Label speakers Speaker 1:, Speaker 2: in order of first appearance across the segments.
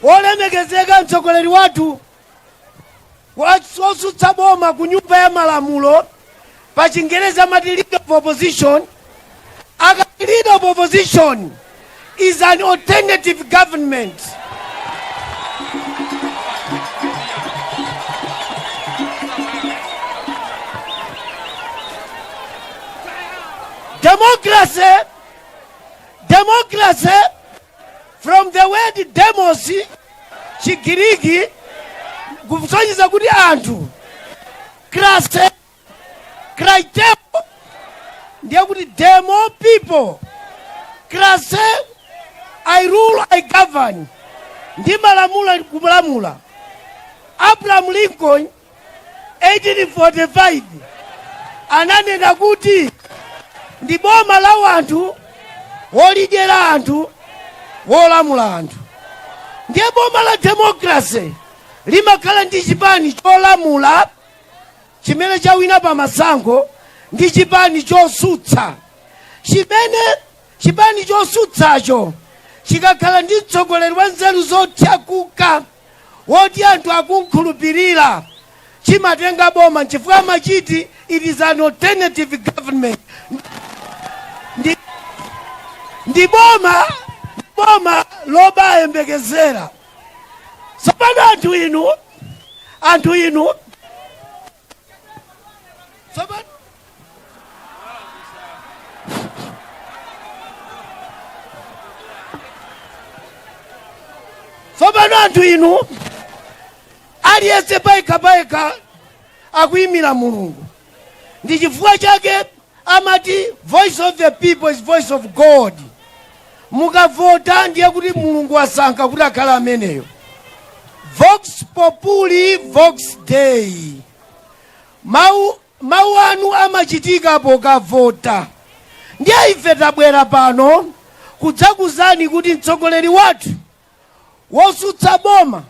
Speaker 1: olemekezeka mtsogoleri wathu wosutsa boma ku nyumba ya malamulo pa chingerezi amati leader of opposition akati leader of opposition is an alternative government democracy democracy from the word demos chigiriki kusonyeza kuti anthu krase krateo ndiye kuti demo people krase i rule i govern ndimalamula kulamula abraham lincoln 1845 ananena kuti ndi boma la wanthu wolidyera anthu wolamula anthu ndiye boma la demokrasi limakhala ndi chipani cholamula chimene chawina pa masankho ndi chipani chosutsa chimene chipani chosutsacho chikakhala ndi mtsogoleri wa nzeru zothyakuka woti anthu akumkhulupirira chimatenga boma nchifukwa chake amati it is an alternative government ndi, ndi boma lobayembekezera tsopano anthu inu anthu inu Tsopano anthu inu aliyense payekha payekha akuyimira mulungu ndi chifukwa chake Amati voice of the people is voice of God. Mukavota ndiye kuti Mulungu wasankha kuti akhale ameneyo. Vox populi vox dei. Mau mau anu amachitika pokavota. Ndiye ife tabwera pano kudzakuzani kuti mtsogoleri wathu wosutsa boma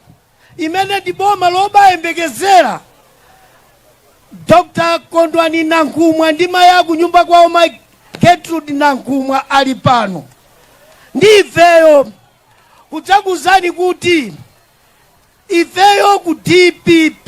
Speaker 1: imene ndi boma lobayembekezera Dr Kondwani Nankhumwa ndi mayi akunyumba kwawo mayi Gertrude Nankhumwa ali pano ndi ifeyo kudzakuuzani kuti ifeyo ku DPP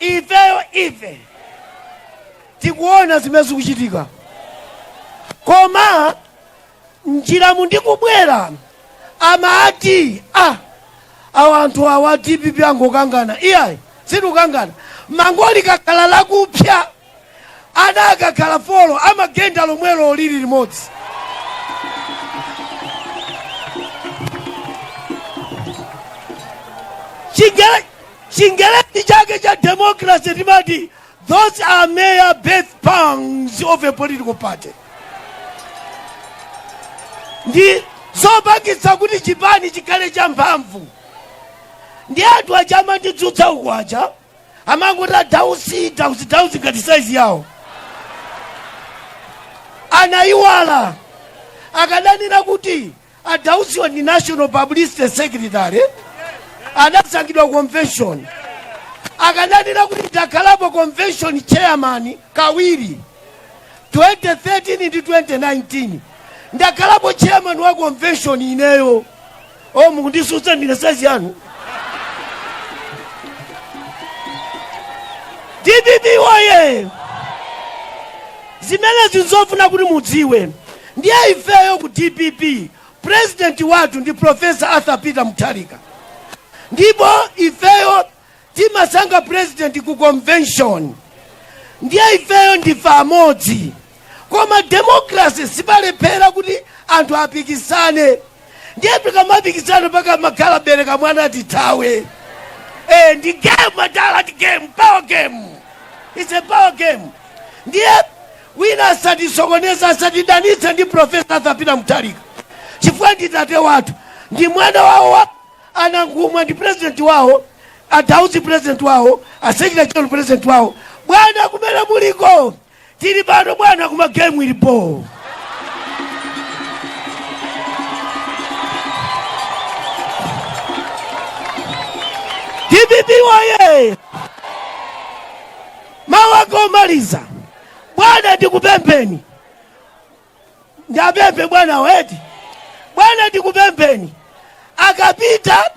Speaker 1: ifeyo ife tikuona zimene zikuchitika koma njiramu ndikubwera amati a awa anthu awa dpp angokangana iyayi sitikukangana bango likakhala lakupsa Ana akakhala four amagenda lomwe lili limodzi. Chingele- Chingelezi chake cha democracy timati those are mere birth pangs of a political party. Ndi zopangitsa kuti chipani chikhale cha mphamvu. Ndi anthu aja amandidzutsa uku aja amangoti a dausi dausi dausi ngati saizi yawo anayiwala akadanena kuti a dausiwa ndi national publicity secretary adasankhidwa convention akadanena kuti ndakhalapo convention chairman kawiri 2013 ndi 2019 ndakhalapo chairman wa convention ineyo o mukundisutsa ndine saizi yanu dpp woyee zimenezi nzofuna kuti mudziwe ndiye ifeyo ku dpp purezidenti wathu ndi profesa arthur peter mutharika ndipo ifeyo timasankha president ku convention ndiye ifeyo ndife amodzi koma democracy sipalephera kuti anthu apikisane ndiye tikamapikisana pakamakhala bereka mwana tithawe eh, ndi game madala ndi game power game it's a power game ndiye wina asatisokoneza asatidanitse ndi profesa arthur peter mutharika chifukwa ndi tate wathu ndi mwana wawo wa A Nankhumwa ndi president wawo, a Dausi president wawo, a Secretary General president wawo. Bwana kumene muliko tili pano bwana, kuma game ilipo. DPP woye mawu anga omaliza bwana, ndikupempheni ndapemphe bwana wait bwana ndikupempheni akapita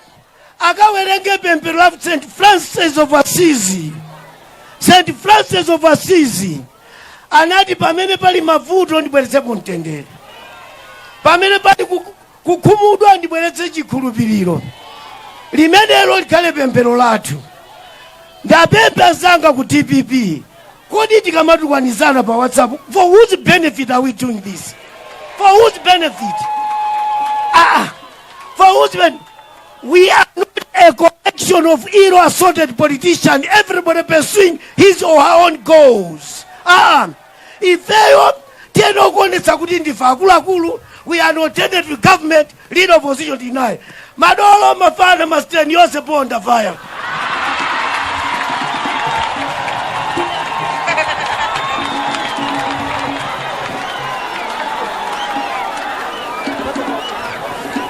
Speaker 1: akawerenge pemphero la st francis of assisi st francis of assisi anati pamene pali mavuto ndibweretsepo mtendere pamene pali ku- kukhumudwa, ndibweretse chikhulupiriro. Limenelo likhale pemphero lathu. Ndapemphe anzanga ku dpp, kodi tikamatukwanana pa WhatsApp, for whose benefit are we doing this? For whose benefit? Ah, for whose benefit? We are not a collection of ill assorted politicians, everybody pursuing his or her own goals. Ah, Ifeyo tiyenera kuonetsa kuti ndife akuluakulu, we are an alternative government, leader opposition DNA. Madolo, mafana, masteni yonse ponda fire.